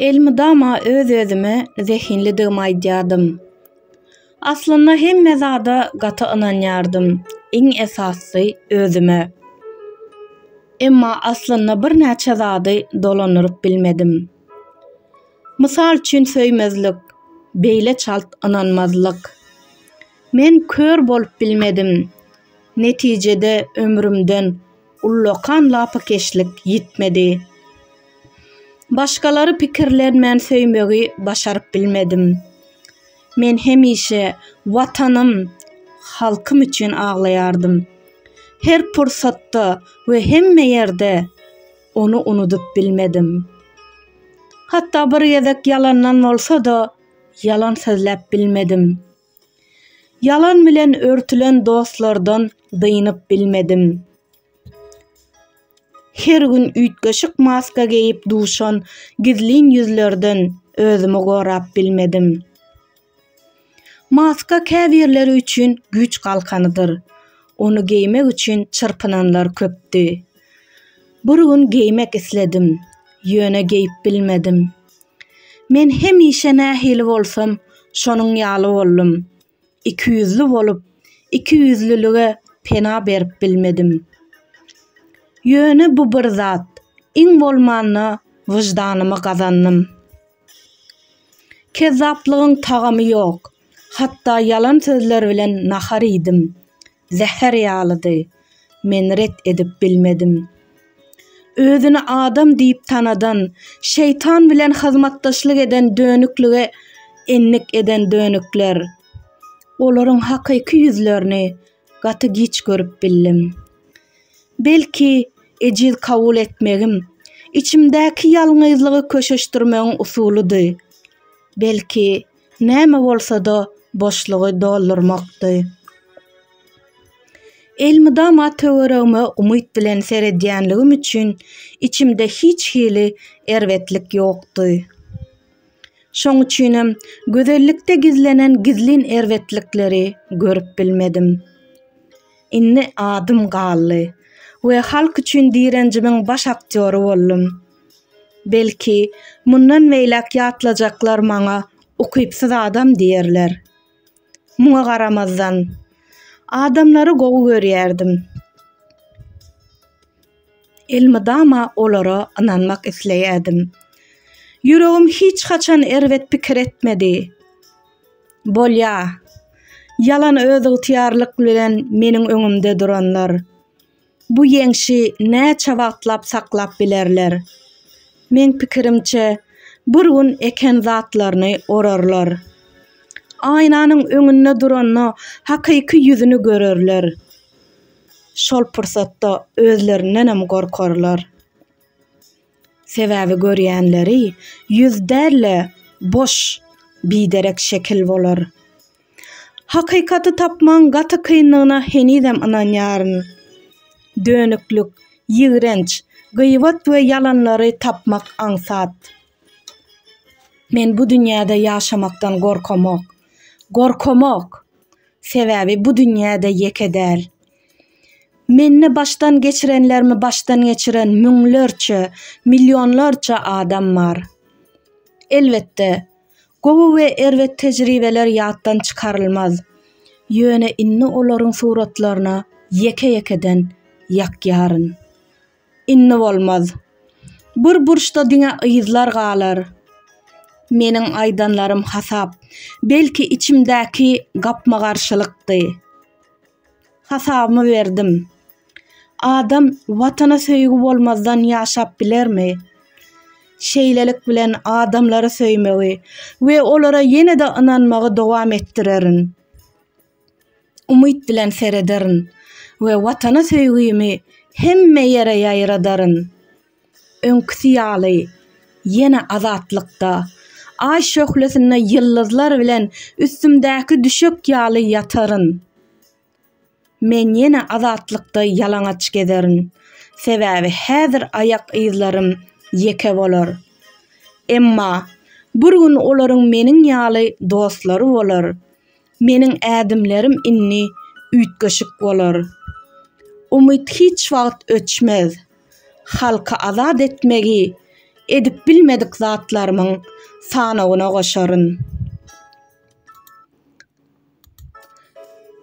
Elmydama öz-özüme zehinlidigimi aýdýardym. Aslynda hemme zada gaty ynanýardym, iň esasysy özüme. Emma aslynda birnäçe zady dolandyryp bilmedim. Mysal üçin söýmezlik, beýle çalt ynanmazlyk. Men kör bolup bilmedim. Netijede ömrümden ullakan lapykeşlik ýitmedi. Başgalary pikirlenmän söýmegi başaryp bilmedim. Men hemişe Watanym, halkym üçin aglaýardym. Her pursatda we hemme ýerde ony unudyp bilmedim. Hatda bir gezek ýalandan bolsa-da ýalan sözläp bilmedim. Ýalan bilen örtülen dostlardan dynyp bilmedim. Her gün üýtgeşik maska geýip duşan gizlin ýüzlerden özümi gorap bilmedim. Maska käbirleri üçin güýç galkanydyr. Ony geýmek üçin çyrpynanlar köpdi. Bir gün geýmek isledim, ýöne geýip bilmedim. Men hemişe nähili bolsam, şonuň ýaly boldum. Ikiýüzli bolup, ikiýüzlülige pena berip bilmedim. Ýöne bu bir zat, iň bolmanda wyždanymy gazandym. Kezzaplygyň tagamy ýok. Hatda ýalan sözler bilen nahar iýdim. Zäher ýalydy. Men ret edip bilmedim. Özüni adam diýip tanadan, şeýtan bilen hyzmatdaşlyk eden dönüklige endik eden dönükler. Olaryň hakyky ýüzlerini gaty giç görüp bildim. Belki, ejiz kabul etmegim, içimdäki ýalňyzlygy köşeşdirmegiň usulydy. Belki, Näme bolsa-da boşlugy doldurmakdy. Elmydama töweregime umyt bilen seredýänligim üçin içimde hiç hili erbetlik ýokdy. Şoň üçinem gözellikde gizlenen gizlin erbetlikleri görüp bilmedim. Indi adym galdy we halk üçin direnjimiň baş aktýory boldum. Belki, mundan beýläk ýatlajaklar maňa ukypsyz adam diýerler. Muňa garamazdan, adamlary gowy görýärdim. Elmydama olara ynanmak isleýärdim. Ýüregim hiç haçan erbet pikir etmedi. Bolýa, ýalan özygtyýarlyk bilen meniň öňümde duranlar. Bu ýeňşi näçe wagtlap saklap bilerler? Meň pikirimçe, bir gün eken zatlaryny orarlar. Aýnanyň öňünde duranda hakyky ýüzüni görerler. Şol pursatda özlerindenem gorkarlar. Sebäbi görýänleri ýüz däl-de, boş, biderek şekil bolar. Hakykaty tapmagyň gaty kyndygyna henizem ynanýaryn. Dönüklik, ýigrenç, gyýbat we ýalanlary tapmak aňsat. Men bu dünýäde ýaşamakdan gorkamok. Gorkamok! Sebäbi bu dünýäde ýeke däl. Mende başdan geçirenlerimi başdan geçiren müňlerçe, millionlarça adam bar. Elbetde, Gowy we erbet tejribeler ýatdan çykarylmaz. Ýöne indi olaryň suratlaryna ýeke-ýekeden ýakýaryn. Indi bolmaz. Bir burçda diňe yzlar galar. Meniň aýdanlarym hasap, belki içimdäki gapma-garşylykdy. Hasabymy berdim. Adam Watana söýgi bolmazdan ýaşap bilermi? Şeýlelik bilen adamlary söýmegi we olara ýene-de ynanmagy dowam etdirerin. Umyt bilen serederin we Watana söýgimi hemme ýere ýaýradaryn. Öňküsi ýaly, ýene azatlykda, Aý şöhlesinde ýyldyzlar bilen üstümdäki düşek ýaly ýataryn. Men ýene azatlykda ýalaňaç gezerin, sebäbi häzir aýak yzlarym ýeke bolar. Emma bir gün olaryň meniň ýaly dostlary bolar, meniň ädimlerim indi üýtgeşik bolar. Umyt hiç wagt öçmez. Halky azat etmegi edip bilmedik zatlarymyň sanawyna goşaryn.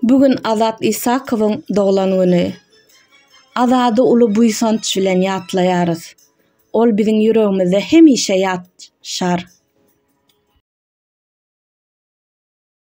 Bu gün Azat Isakowyň doglan güni. Azady uly buýsanç bilen ýatlaýarys. Ol biziň ýüregimizde hemişe ýaşar.